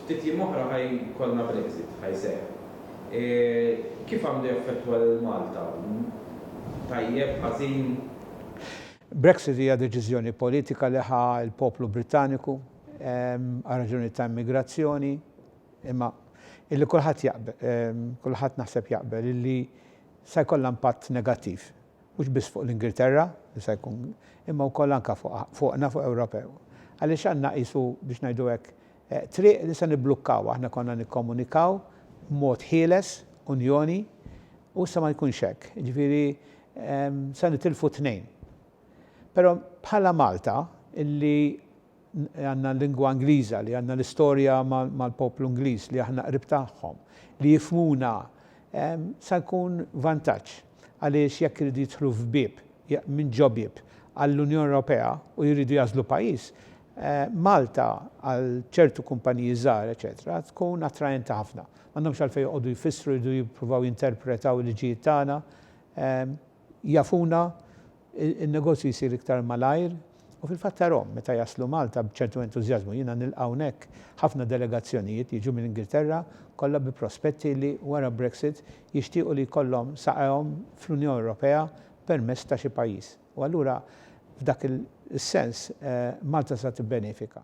Ftit jiem oħra ħa jkollna Brexit, ħa jseħħ. Kif għandu jaffettwa lil Malta? Tajjeb, ħażin? Brexit hija deċiżjoni politika li ħa l-poplu Brittaniku għal raġunijiet ta' immigrazzjoni, imma illi kulħadd jaqbel, kulħadd naħseb jaqbel, illi sa jkollha impatt negattiv mhux biss fuq l-Ingilterra, li se jkun, imma wkoll anke fuqna, fuq Ewropew. Għaliex għandna qisu, biex ngħidu hekk, triq li se nibblukkawha. Aħna konna nikkomunikaw b'mod ħieles, Unjoni, u issa ma jkunx hekk. Jiġifieri se nitilfu t-tnejn. Però bħala Malta, li għandna l-lingwa Ingliża, li għandna l-istorja mal-poplu Ingliż, li aħna qrib tagħhom, li jifhmuna, sa jkun vantaġġ. Għaliex jekk iridu jidħlu f'bieb, minn ġo bieb, għall-Unjoni Ewropea u jridu jagħżlu pajjiż, Malta għal ċertu kumpaniji żgħar eċċetera tkun attraenti ħafna. M'għandhomx għalfejn joqogħdu jfissru, jridu jippruvaw jinterpretaw il-liġijiet tagħna. jafuna n-negozju jsir iktar malajr u fil-fatt tarahom meta jaslu Malta b'ċertu entużjażmu. Jiena nilqa' hawnhekk ħafna delegazzjonijiet jiġu mill-Ingilterra kollha bi prospetti li wara Brexit jixtiequ li jkollhom saqajhom fl-Unjoni Ewropea permezz ta' xi pajjiż. U allura f'dak is-sens Malta sa tibbenefika.